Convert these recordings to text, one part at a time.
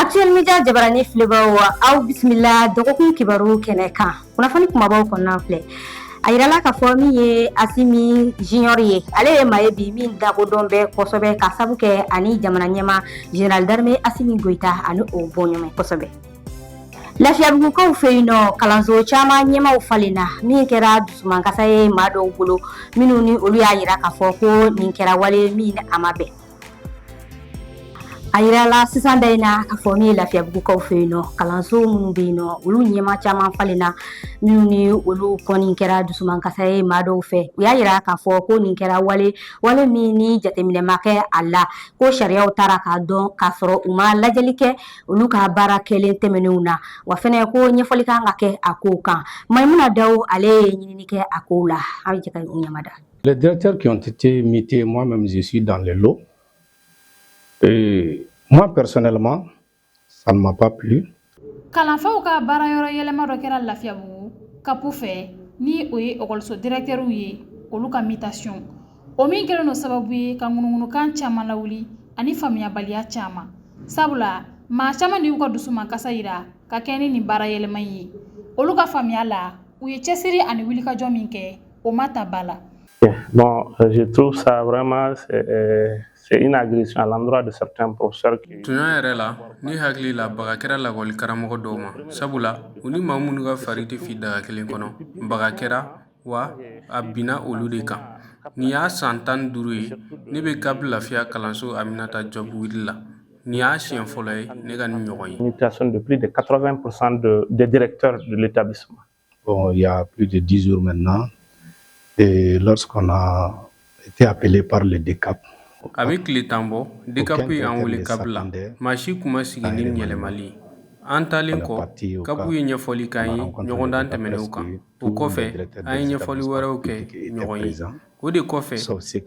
Actuel media jabarani filɛbaaw aw bisimila dɔgɔkun kibaru kɛnɛ kan kunnafoni kumabaw kɔnɔna filɛ a yirala k'a fɔ min ye Asimi Junior ye ale ye maa ye bi min lakodɔn bɛ kosɛbɛ k'a sabu kɛ a ni jamana ɲɛmaa Général d'armée Asimi Goyita a ni o bɔɲɔgɔn kosɛbɛ Lafiyabugukaw fɛ yen nɔ kalanso caman ɲɛmaaw falenna min kɛra dusumankasa ye maa dɔw bolo minnu ni olu y'a yira k'a fɔ ko nin kɛra wale min a ma bɛn A yirala sisan da in na k'a fɔ min ye lafiyabugukaw fɛ yen nɔ kalanso minnu bɛ yen nɔ olu ɲɛmaa caman falenna minnu ni olu kɔni kɛra dusumankasa ye maa dɔw fɛ u y'a yira k'a fɔ ko nin kɛra wale wale min ni jateminɛ ma kɛ a la ko sariyaw tara k'a dɔn k'a sɔrɔ u ma lajɛli kɛ olu ka baara kɛlen tɛmɛnenw na wa fɛnɛ ko ɲɛfɔli kan ka kɛ a kow kan maimuna daw ale ye ɲinini kɛ a kow la an bɛ jɛ ka ɲɛ mada Les directeurs qui ont été mutés, moi-même, je suis dans le lot. Et moi, personnellement, ça ne m'a pas plu. Kalanfaw ka baara yɔrɔ yɛlɛma dɔ kɛra Lafiyabugu kapu fɛ ni o ye lakɔliso directɛriw ye olu ka mutation o min kɛlen don sababu ye ka ŋunuŋunukan caman lawuli ani faamuyabaliya caman sabula maa caman de y'u ka dusumankasa yira ka kɛɲɛ ni nin baara yɛlɛma ye olu ka faamuya la u ye cɛsiri ani wulikajɔ min kɛ o ma ta ba la. Bon, euh, je trouve ça vraiment euh, c'est une agression à l'endroit de certains professeurs qui Tuɲa yɛrɛ la ne hakili la baga kɛra lakɔli karamɔgɔ dɔw ma sabula u ni maa minnu ka fari tɛ fi daga kelen kɔnɔ baga kɛra wa a binna olu de kan nin y'a san tan ni duuru ye ne bɛ kapu lafiya kalanso aminata Diop huit la nin y'a siɲɛ fɔlɔ ye ne ka nin ɲɔgɔn ye mutation de plus de 80% de, des directeurs de l'établissement Bon, il y a plus de dix jours maintenant, et lorsqu'on a été appelé par le DECAP, A bɛ tile tan bɔ dekapu ye an wele kapu la maa si tun ma sigi ni yɛlɛmali ye an taalen kɔ kapu ye ɲɛfɔli k'an ye ɲɔgɔndan tɛmɛnenw kan o kɔfɛ an ye ɲɛfɔli wɛrɛw kɛ ɲɔgɔn ye o de kɔfɛ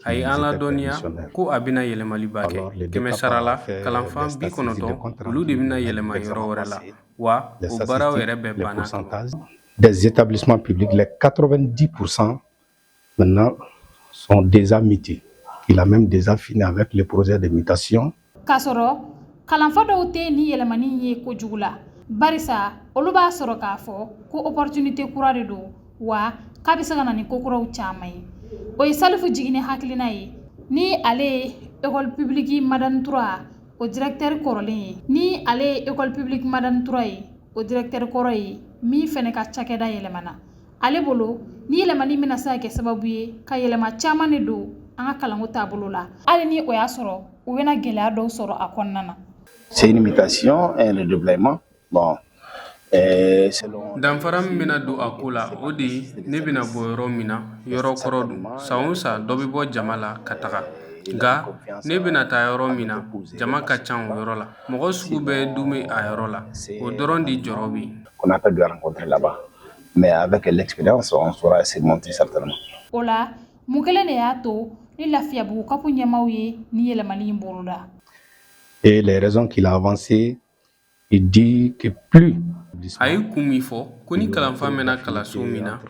a ye an ladɔnniya ko a bɛna yɛlɛmaliba kɛ kɛmɛ sarala kalanfa bi kɔnɔntɔn olu de bɛna yɛlɛma yɔrɔ wɛrɛ la wa o baaraw yɛrɛ bɛɛ banna ka ban des établissements publics les 90 pour 100 maintenant sont déjà mutés il a même déjà fini avec le projet de mutation k'a sɔrɔ kalanfa dɔw tɛ nin yɛlɛmani ye kojugu la barisa olu b'a sɔrɔ k'a fɔ ko opportunité kura de don wa k'a bɛ se ka na ni kokuraw caman ye o ye salifu jigini hakilina ye ni ale ye école publique madani tura o directeur kɔrɔlen ye ni ale ye école publique Madani Traoré o directeur kɔrɔ ye min fɛnɛ ka cakɛda yɛlɛmana ale bolo ni yɛlɛmani bɛna se ka kɛ sababu ye ka yɛlɛma caman de don an ka kalanko taabolo la hali ni o y'a sɔrɔ u bɛna gɛlɛya dɔw sɔrɔ a kɔnɔna na c'est une mutation un redéploiement Bon ɛɛ selon danfara min bɛna don a ko la o de ye ne bɛna bɔ yɔrɔ min na yɔrɔ kɔrɔ don san o san dɔ bɛ bɔ jama la ka taga nka ne bɛna taa yɔrɔ min na jama ka ca o yɔrɔ la mɔgɔ sugu bɛɛ dun bɛ a yɔrɔ la o dɔrɔn de jɔrɔ bɛ yen qu'on a pas dû rencontrer là-bas. Mais avec l'expérience, on saura surmonter certainement. O la, mun kelen de y'a to ni Lafiyabugu kapu ɲɛmaaw ye nin yɛlɛmali in boloda? Et les raisons qu'il a avancées, il dit que plus a ye kun min fɔ ko ni kalanfa mɛnna kalanso min na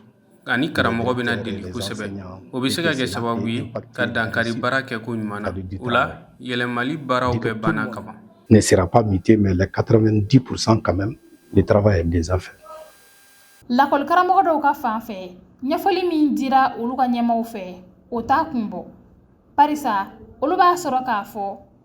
ani karamɔgɔ bɛna deli kosɛbɛ o bɛ se ka kɛ sababu ye ka dankari baara kɛko ɲuman na o la yɛlɛmali baaraw bɛɛ banna ka ban ne sera pas muté mais les 90% quand même le travail est déjà fait lakɔli karamɔgɔ dɔw ka fan fɛ ɲɛfɔli min dira olu ka ɲɛmaw fɛ o t'a kun bɔ barisa olu b'a sɔrɔ k'a fɔ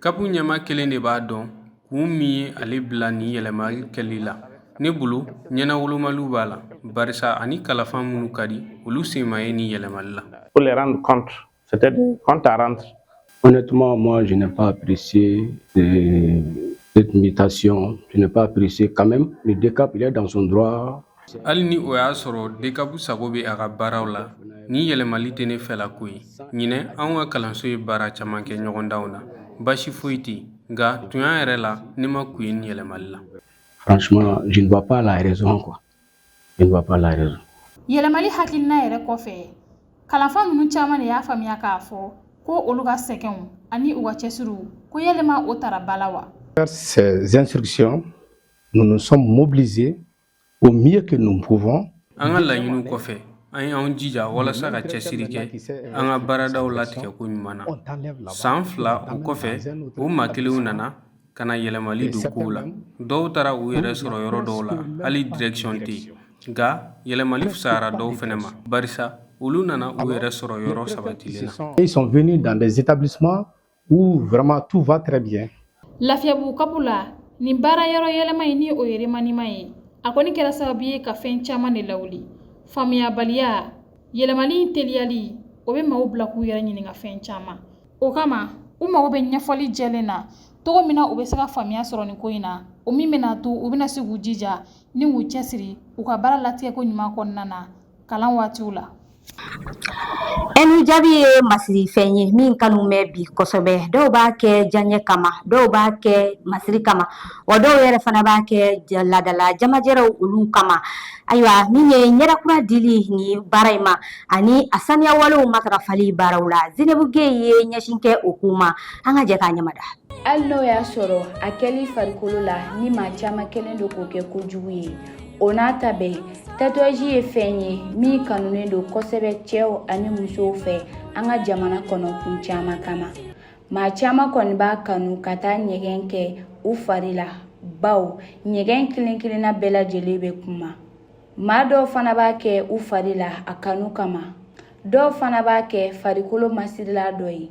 Kapu ɲɛmaa kelen de b'a dɔn kun min ye ale bila nin yɛlɛmali kɛli la ne bolo ɲɛnawolomaliw b'a la barisa a ni kalanfa minnu ka di olu sen ma ye nin yɛlɛmali la Honnêtement, moi, je n'ai pas apprécié euh, cette mutation. Je n'ai pas apprécié quand même. Le DCAP, il est dans son droit Hali ni o y'a sɔrɔ DCAP sago bɛ a ka baaraw la, nin yɛlɛmali tɛ ne fɛla ko ye. Ɲinɛ, anw ka kalanso ye baara caman kɛ ɲɔgɔndanw na, baasi foyi tɛ yen, nka tuɲa yɛrɛ la, ne ma kun ye nin yɛlɛmali la. Franchement, je ne vois pas la raison quoi, je ne vois pas la raison. Yɛlɛmali hakilina yɛrɛ kɔfɛ, kalanfa ninnu caman de y'a faamuya k'a fɔ ko olu ka sɛgɛnw ani u ka cɛsiriw, ko yalima o taara ba la wa? Ces instructions, nous nous sommes mobilisés Au mieux que nous pouvons an ka laɲiniw kɔfɛ, an ye an jija walasa ka cɛsiri kɛ an ka baaradaw latigɛ ko ɲuman na. San fila o kɔfɛ, o maa kelenw nana ka na yɛlɛmali don kow la. Dɔw taara u yɛrɛ sɔrɔ yɔrɔ dɔw la, hali direction tɛ yen. Nka yɛlɛmali fisayara dɔw fɛnɛ ma, barisa olu nana u yɛrɛ sɔrɔ yɔrɔ sabatilen na. Ils sont venus dans des établissements Où vraiment tout va très bien. Lafiyabugu kapu la, nin baara yɔrɔ yɛlɛma in ni o ye remaniement ye, a kɔni kɛra sababu ye ka fɛn caman de lawuli. Faamuyabaliya, yɛlɛmali in teliyali, o bɛ maaw bila k'u yɛrɛ ɲininka fɛn caman. O kama, u mago bɛ ɲɛfɔli jɛlen na cogo min na u bɛ se ka faamuya sɔrɔ nin ko in na, o min bɛna to u bɛna se k'u jija ni k'u cɛsiri u ka baara latigɛko ɲuman kɔnɔna na. kalan waatiw la ɛni jabi ye masiri fɛn ye min kanu bɛ bi kosɛbɛ dɔw b'a kɛ diyaɲɛ kama dɔw b'a kɛ masiri kama wa dɔw yɛrɛ fana b'a kɛ laadala jamajɛrɛw olu kama ayiwa min ye ɲɛda kura dili ni baara in ma ani a saniya walew matarafali baaraw la zenebu geye ye ɲɛsin kɛ o ko ma an ka jɛ k'a ɲɛmada hali n'o y'a sɔrɔ a kɛli farikolo la ni maa caman kɛlen don k'o kɛ kojugu ye o n'a ta bɛɛ tatouage ye fɛn ye min kanunen don kosɛbɛ cɛw ani musow fɛ an ka jamana kɔnɔ kun caman kama maa caman kɔni b'a kanu ka taa ɲɛgɛn kɛ u fari la bawo ɲɛgɛn kelen kelenna bɛɛ lajɛlen bɛ kuma maa dɔw fana b'a kɛ u fari la a kanu kama dɔw fana b'a kɛ farikolo masirila dɔ ye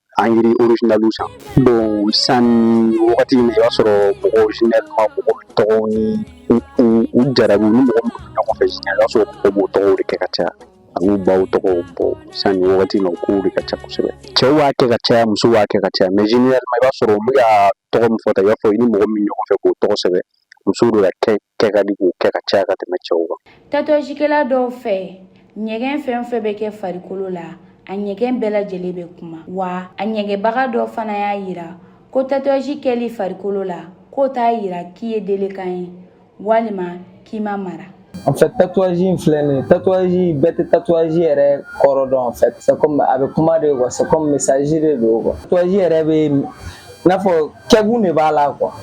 angiri orijinaliw san bon sisan wagati min i b'a sɔrɔ mɔgɔw généralement mɔgɔ tɔgɔw ni u jarabiw ni mɔgɔ minnu bɛ ɲɔgɔn fɛ sisan i b'a sɔrɔ mɔgɔw b'o tɔgɔw de kɛ ka caya ani baw tɔgɔw bon sisan nin wagati in na o kow de ka ca kosɛbɛ cɛw b'a kɛ ka caya musow b'a kɛ ka caya mais généralement i b'a sɔrɔ n bɛ ka tɔgɔ min fɔ tan i n'a fɔ i ni mɔgɔ min ɲɔgɔn fɛ k'o tɔgɔ sɛbɛn musow de ka kɛ ka di k'o kɛ ka caya ka tɛmɛ cɛw kan tatouagekɛla dɔw fɛ ɲɛgɛn fɛn o fɛn bɛ kɛ farikolo la a ɲɛgɛn bɛɛ lajɛlen bɛ kuma wa a ɲɛgɛnbaga dɔ fana y'a yira ko tatouage kɛli farikolo la k'o t'a yira k'i ye délinquant ye walima k'i ma mara En fait, tatouage in filɛ nin ye tatouage bɛɛ tɛ tatouage yɛrɛ kɔrɔ dɔn en fait c'est comme a bɛ kuma de quoi c'est comme message de don quoi tatouage yɛrɛ bɛ i n'a fɔ kɛkun de b'a la quoi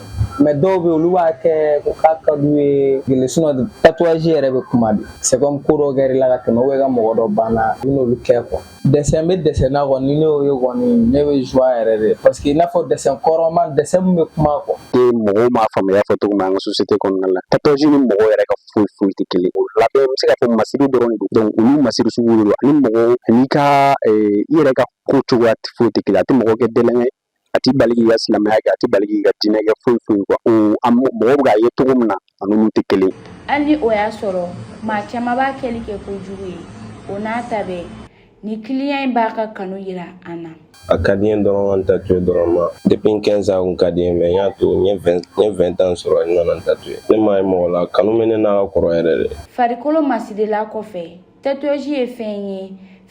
mais dɔw bɛ olu b'a kɛ ko k'a ka d'u ye gele sinon tatouage yɛrɛ bɛ kuma de c'est comme ko dɔ kɛr'i la ka tɛmɛ ou bien i ka mɔgɔ dɔ banna i n'olu kɛ quoi dessin bɛ dessin na kɔni ni ne y'o ye kɔni ne bɛ joie yɛrɛ de parce que i n'a fɔ dessin kɔrɔma dessin min bɛ kuma quoi. E mɔgɔw m'a faamuya fɔ cogo min an ka société kɔnɔna la tatouage ni mɔgɔw yɛrɛ ka foyi foyi tɛ kelen o labɛn bɛ se k'a fɔ masiri dɔrɔn de don donc olu masiri sugu de don ani mɔgɔw ani ka e, i yɛrɛ ka ko cogoya foyi tɛ kelen a tɛ mɔgɔ kɛ délinquant a t'i bali k'i ka silamɛya kɛ a t'i bali k'i ka diinɛ kɛ foyi foyi quoi mɔgɔw bɛ k'a ye cogo min na a n'olu tɛ kelen ye hali ni o y'a sɔrɔ maa caman b'a kɛli kɛ kojugu ye o n'a ta bɛɛ nin client in b'a ka kanu yira an na a ka di n ye dɔrɔn ka n tatouer dɔrɔn ma depuis n 15 ans a kun ka di n ye mais n y'a to n ye 20 n ye 20 ans sɔrɔ n nana n tatouer ne m'a ye mɔgɔ la a kanu bɛ ne na ka kɔrɔ yɛrɛ de farikolo masirila kɔfɛ Tatouage ye fɛn ye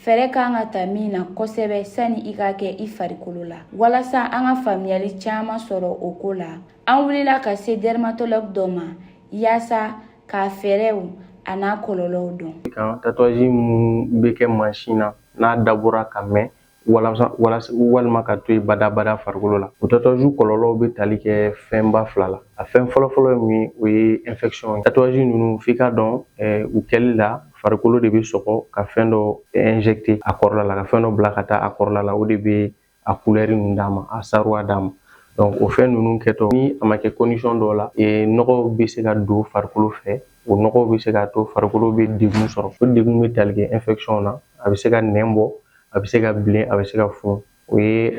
fɛɛrɛ ka kan ka ta min na kosɛbɛ sani i k'a kɛ i farikolo la walasa an ka faamuyali caman sɔrɔ o ko la an wulila ka se dermatologue dɔ ma yaasa k'a fɛɛrɛw a n'a kɔlɔlɔw dɔn kan tatouage minnu bɛ kɛ mansin na n'a dabɔra ka mɛn walima ka to yen badabada farikolo la o tatouage kɔlɔlɔw bɛ tali kɛ fɛnba fila la a fɛn fɔlɔfɔlɔ ye min o ye infection ye tatouage ninnu f'i ka dɔn eh, u kɛli la farikolo de bɛ sɔgɔ ka fɛn dɔ injecter a kɔrɔla la ka fɛn dɔ bila ka taa a kɔrɔla la o de bɛ a couleur ninnu d'a ma a saruwa d'a ma donc o fɛn ninnu kɛtɔ ni a ma kɛ condition dɔw la eh, nɔgɔw bɛ se ka don farikolo fɛ o nɔgɔw bɛ se k'a to farikolo bɛ degun sɔrɔ o degun bɛ tali kɛ infection na a bɛ se ka nɛn bɔ a bɛ se ka bilen a bɛ se ka funu o ye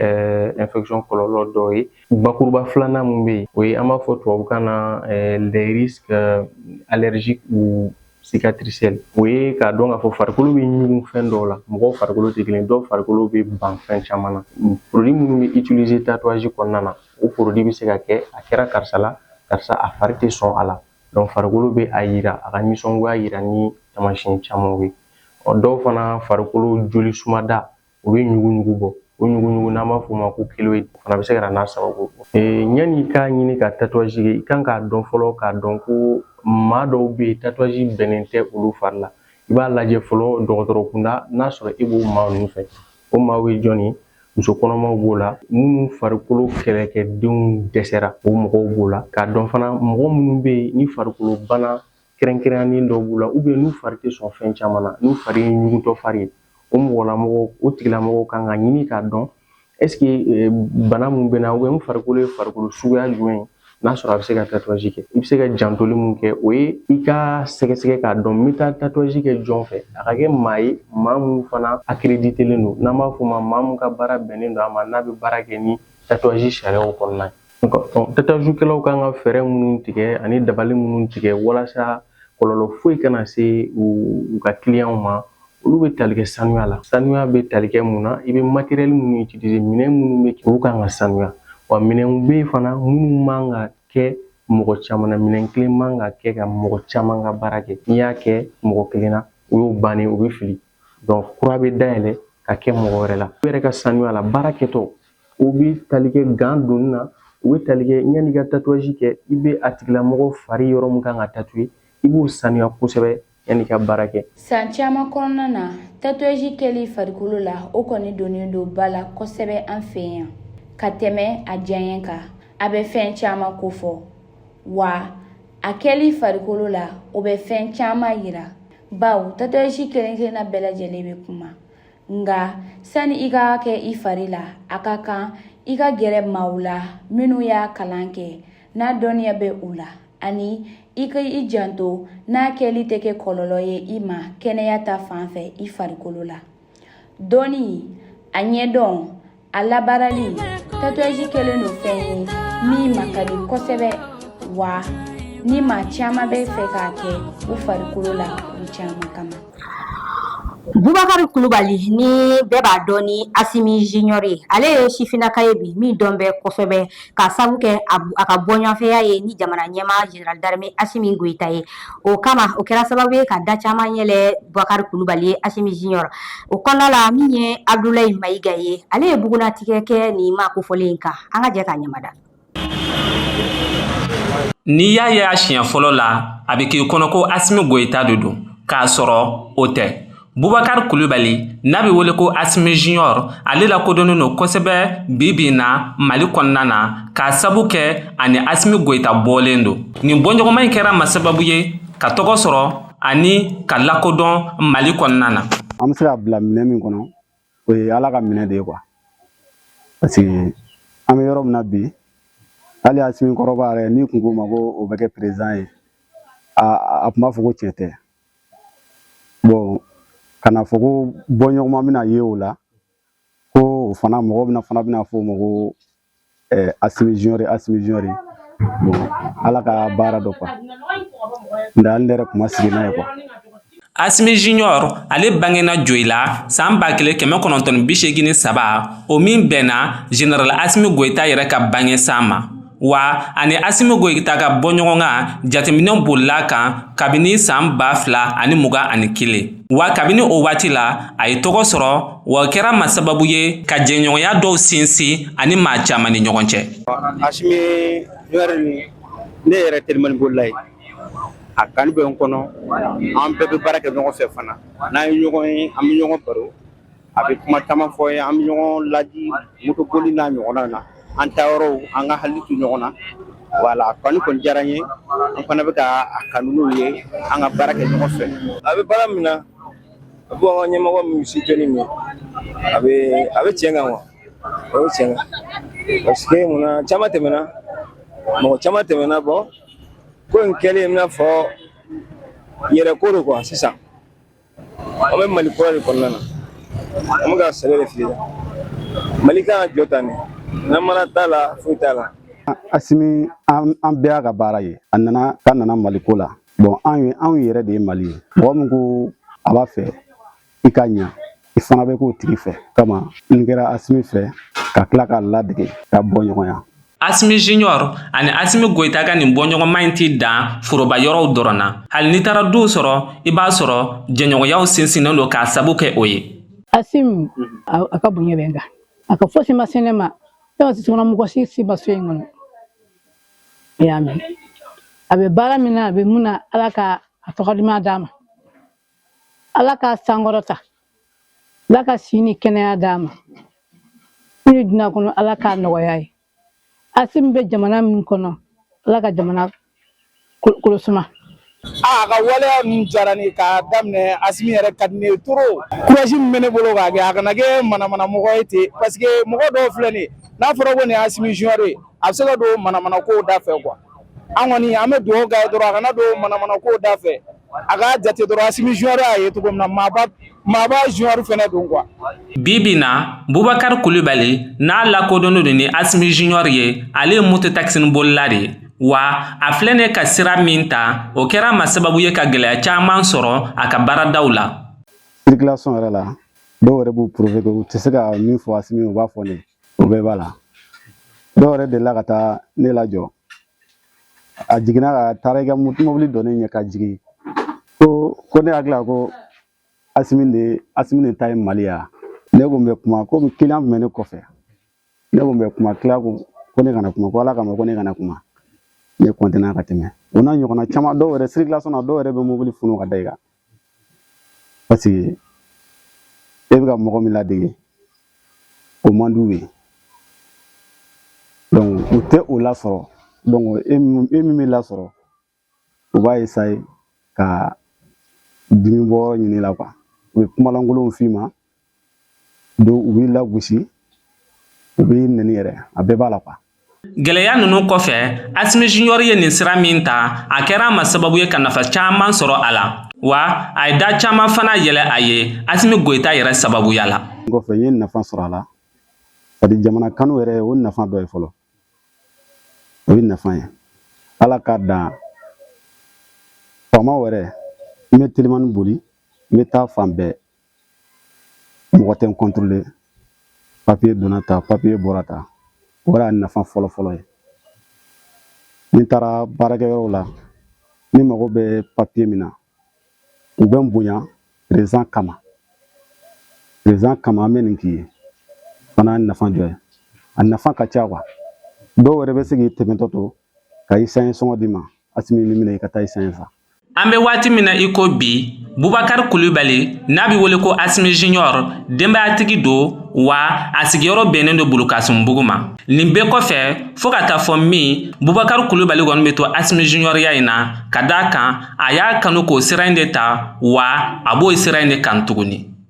infection kɔlɔlɔ dɔw ye bakuruba filanan min bɛ yen o ye an b'a fɔ tubabukan na les risques allergiques ou cicatriciels o ye k'a dɔn k'a fɔ farikolo bɛ ɲugun fɛn dɔw la mɔgɔw farikolo tɛ kelen dɔw farikolo bɛ ban fɛn caman na produit minnu bɛ utiliser tatouage kɔnɔna na o produit bɛ se ka kɛ a kɛra karisa la karisa a fari tɛ sɔn a la farikolo bɛ a yira a ka nisɔngoya yira ni taamasiyɛn camanw ye ɔ dɔw fana farikolo joli sumada o bɛ ɲuguɲugu bɔ o ɲuguɲugu n'an b'a f'o ma ko chéloïde o fana bɛ se ka na n'a sababu ye yanni i k'a ɲini ka tatouage kɛ i kan k'a dɔn fɔlɔ k'a dɔn ko maa dɔw bɛ yen tatouage bɛnnen tɛ olu fari la i b'a lajɛ fɔlɔ dɔgɔtɔrɔ kunda n'a sɔrɔ e b'o maa ninnu fɛ O maaw ye jɔn ye muso kɔnɔmaw b'o la minnu farikolo kɛlɛkɛdenw dɛsɛra o mɔgɔw b'o la k'a dɔn fana mɔgɔ minnu bɛ yen ni farikolo bana kɛrɛnkɛrɛnnen dɔw b'u la ou bien n'u fari tɛ sɔn fɛn caman na n'u fari ye ɲugutɔ fari ye o tigilamɔgɔw kan ka ɲini k'a dɔn est-ce que bana min bɛ n na ou bien n farikolo ye farikolo suguya jumɛn ye n'a sɔrɔ a bɛ se ka tatouage kɛ i bɛ se ka jantoli mun kɛ o ye i ka sɛgɛsɛgɛ k'a dɔn n bɛ taa tatouage kɛ jɔn fɛ a ka kɛ maa ye maa mun fana accréditélen don n'an b'a f'o ma maa mun ka baara bɛnnen don a ma n'a bɛ baara kɛ ni tatouage sariyaw kɔnɔna ye tatouagekɛlaw kan ka fɛɛrɛ minnu tigɛ ani dabali minnu tigɛ walasa kɔlɔlɔ foyi kana se u u ka clientw ma olu bɛ tali kɛ sanuya la sanuya bɛ tali kɛ mun na i bɛ matériel minnu utiliser minɛn minnu bɛ kɛ olu kan ka sanuya wa minɛnw bɛ yen fana minnu man ka kɛ mɔgɔ caman na minɛn kelen man ka kɛ ka mɔgɔ caman ka baara kɛ n'i y'a kɛ mɔgɔ kelen na o y'o bannen o bɛ fili kura bɛ dayɛlɛ ka kɛ mɔgɔ wɛrɛ la u yɛrɛ ka sanuya la baara kɛtɔ o bɛ tali kɛ gant donni na u bɛ tali kɛ yanni i ka tatouage kɛ i bɛ a tigilamɔgɔ fari yɔrɔ min kan ka tatouer i b'o sanuya kosɛbɛ yanni i ka baara kɛ san caman kɔnɔna na tatouage kɛli farikolo la o kɔni donnen don ba la kosɛbɛ an fɛ yan ka tɛmɛ a diyaɲɛ kan a bɛ fɛn caman kofɔ wa a kɛli farikolo la o bɛ fɛn caman yira bawo tatouage kelen kelenna bɛɛ lajɛlen bɛ kuma nga sani i k'a kɛ i fari la a ka kan i ka gɛrɛ maaw la minnu y'a kalan kɛ n'a dɔnniya bɛ u la ani i ka i janto n'a kɛli tɛ kɛ kɔlɔlɔ ye i ma kɛnɛya ta fan fɛ i farikolo la dɔnni a ɲɛdɔn a labaarali tatouage kɛlen don fɛn ye min ma ka di kosɛbɛ wa ni maa caman bɛ fɛ k'a kɛ u farikolo la kun caman kama bubakari kulubali ni bɛɛ b'a dɔn ni asimi junior ye ale ye sifinnaka ye bi min dɔn bɛ kosɛbɛ k'a sabu kɛ a ka bɔɲɔgɔnfɛya ye ni jamana ɲɛmaa Général d'armée Assimi Goïta ye, o kama o kɛra sababu ye ka da caman yɛlɛ Boubacar Coulibaly ye Assimi Junior o kɔnɔna la min ye Abdoulaye Maïga ye ale ye bugunnatigɛ kɛ nin maa kofɔlen in kan an ka jɛ k'a ɲɛmada. N'i y'a ye a siɲɛ fɔlɔ la, a bɛ k'i kɔnɔ ko Assimi Goïta de don, k'a sɔrɔ o tɛ. bubakari kulubali n'a be wele ko asimi junior ale lakodɔnnen don kosɛbɛ bi bi na mali kɔnɔna na k'a sabu kɛ a ni asimi goyita bɔlen don nin bɔɲɔgɔnma in kɛra a ma sababu ye ka tɔgɔ sɔrɔ ani ka lakodɔn mali kɔnɔna na an be se k'a bila minɛn min kɔnɔ o ye ala ka minɛn de ye quoi parce que an be yɔrɔ min na bi hali asimi kɔrɔba yɛrɛ n'i tun ko a ma ko o bɛ kɛ perezidan ye a tun b'a fɔ ko tiɲɛ tɛ bon kana fɔ ko bɔɲɔgɔnma bɛna ye o la ko o fana mɔgɔ bɛna fana bɛna fɔ o ma ko eh, asimi junior asimi junior bon ala ka baara don quoi nka hali ne yɛrɛ tun ma sigi n'a ye quoi asimi junior ale bangena joyila san ba kelen kɛmɛ kɔnɔntɔn bi seegin ni saba o min bɛnna general asimi goyita yɛrɛ ka bange san ma wa a ni asimi goyita ka bɔ ɲɔgɔn ka jateminɛw bolila kan kabini san ba fila ani muga ani kelen wa kabini o waati la a ye tɔgɔ sɔrɔ wa kɛra ma sababu ye ka jɛɲɔgɔnya dɔw sinsin ani maa caman ni ɲɔgɔn cɛ asimi junior ne yɛrɛ telimani bolila ye a kanu bɛ n kɔnɔ an bɛɛ bɛ baara kɛ ɲɔgɔn fɛ fana n'an ye ɲɔgɔn ye an bɛ ɲɔgɔn baro a bɛ kuma caman fɔ n ye an bɛ ɲɔgɔn laadi motoboli n'a ɲɔgɔnna na an taayɔrɔw an ka hakili to ɲɔgɔn na wala kanu kɔni diyara n ye an fana bɛ ka a kanu ye an ka baara kɛ ɲɔgɔn fɛ a bɛ baara min na a bɛ an ka ɲɛmɔgɔ min si jɔni min a bɛ a bɛ tiɲɛ kan wa a bɛ tiɲɛ kan parce que mun na caman tɛmɛna mɔgɔ caman tɛmɛna bon ko in kɛlen i n'a fɔ yɛrɛ ko don quoi sisan an bɛ mali kura de kɔnɔna na an bɛ ka sɛbɛ de fili mali kan ka jɔ tan de namara t'a la foyi t'a la asimi an bɛɛ y'a ka baara ye a nana ka nana mali ko la bon anw ye anw yɛrɛ de ye mali ye mɔgɔ min ko a b'a fɛ i ka ɲa i fana bɛ k'o tigi fɛ o kama n kɛra asimi fɛ ka tila k'a ladege ka bɔ ɲɔgɔnya Asimi Junior ani Asimi Goyita ka nin bɔɲɔgɔnma in tɛ dan foroba yɔrɔw dɔrɔn na. Hali n'i taara duw sɔrɔ, i b'a sɔrɔ jɛɲɔgɔnyaw sinsinnen don k'a sabu kɛ o ye. Asim, a ka bonya bɛ n kan. A ka fosi ma se ne ma, ne ma sisɔnna mɔgɔ si si ma so in kɔnɔ. I y'a mɛn. A bɛ baara min na, a bɛ mun na, Ala ka a tɔgɔ duman d'a ma. ala k'a sankɔrɔta ala ka si ni kɛnɛya d'a ma nin dunuya kɔnɔ ala k'a nɔgɔya a ye asimi bɛ jamana min kɔnɔ ala ka jamana kolosuma aa ka waleya min diyara ne k'a daminɛ asimi yɛrɛ ka di ne ye trop courage min bɛ ne bolo k'a kɛ a kana kɛ manamana mɔgɔ ye ten parce que mɔgɔ dɔw filɛ nin n'a fɔra ko nin asimi junior ye a bɛ se ka don manamana kow da fɛ quoi an kɔni an bɛ dugawu k'a ye dɔrɔn a kana don manamana kow da fɛ a ka jate dɔrɔn Asimi Junior y'a ye cogo min na maaba maaba Junior fana don quoi bi bi in na Bubakari Kulibali n'a lakodɔnnen don ni Asimi Junior ye ale ye moto takisinibolila de ye wa a filɛ nin ka sira min ta o kɛra a ma sababu ye ka gɛlɛya caman sɔrɔ a ka baaradaw la circulation yɛrɛ la dɔw yɛrɛ b'u prouver u tɛ se ka min fɔ Asimi u b'a fɔ ne o bɛɛ b'a la dɔw yɛrɛ delila ka taa ne lajɔ a jiginna ka taara i ka mobili jɔ ne ɲɛ ka jigin ko ko ne hakili la ko asimi de asimi de ta ye mali ye wa ne ko n bɛ kuma komi kiliyan tun bɛ ne kɔfɛ ne ko n bɛ kuma kiliyan ko ko ne kana kuma ko ala kama ko ne kana kuma ne kɔntine ka tɛmɛ o n'a ɲɔgɔnna caman dɔw yɛrɛ sirikilasɔn na dɔw yɛrɛ bɛ mobili funu ka da i kan parce que e bɛ ka mɔgɔ min ladege o man d'u ye donc u tɛ o lasɔrɔ donc e min e min bɛ lasɔrɔ u b'a essayer ka dimi bɔyɔrɔ ɲini i la quoi u bɛ kumalankolonw f'i ma donc u b'i lagosi u b'i neni yɛrɛ a bɛɛ b'a la quoi Gɛlɛya ninnu kɔfɛ Asimi Junior ye nin sira min ta a kɛra a ma sababu ye ka nafa caman sɔrɔ a la wa a ye da caman fana yɛlɛ a ye Asimi Goyita yɛrɛ sababuya la. N kɔfɛ n ye nafa sɔrɔ a la c'est-à-dire jamana kanu yɛrɛ o nafa dɔ ye fɔlɔ o ye nafa ye Ala ka dan faamaw yɛrɛ n bɛ telimani boli n bɛ taa fan bɛɛ mɔgɔ tɛ n contrôler papiye donna ta papiye bɔra ta o y'a nafa fɔlɔ fɔlɔ ye ni n taara baarakɛyɔrɔw la ne mago bɛ papiye min na u bɛ n bonya perezan kama perezan kama an bɛ nin k'i ye fana y'a nafa dɔ ye a nafa ka ca quoi dɔw yɛrɛ bɛ se k'i tɛmɛtɔ to ka esansi sɔngɔ d'i ma asimi nin minɛ i ka taa esansi san an bɛ waati min na i ko bi bubakari kulibali n'a bɛ wele ko asimi junior denbayatigi don wa a sigiyɔrɔ bɛnnen don bulukasunbugu ma nin bɛɛ kɔfɛ fɔɔ ka taa fɔ min bubakari kulibali kɔni bɛ to asimi juniɔriya in na ka d'a kan a y'a kanu k'o sira in de ta wa a b'o sira in de kan tuguni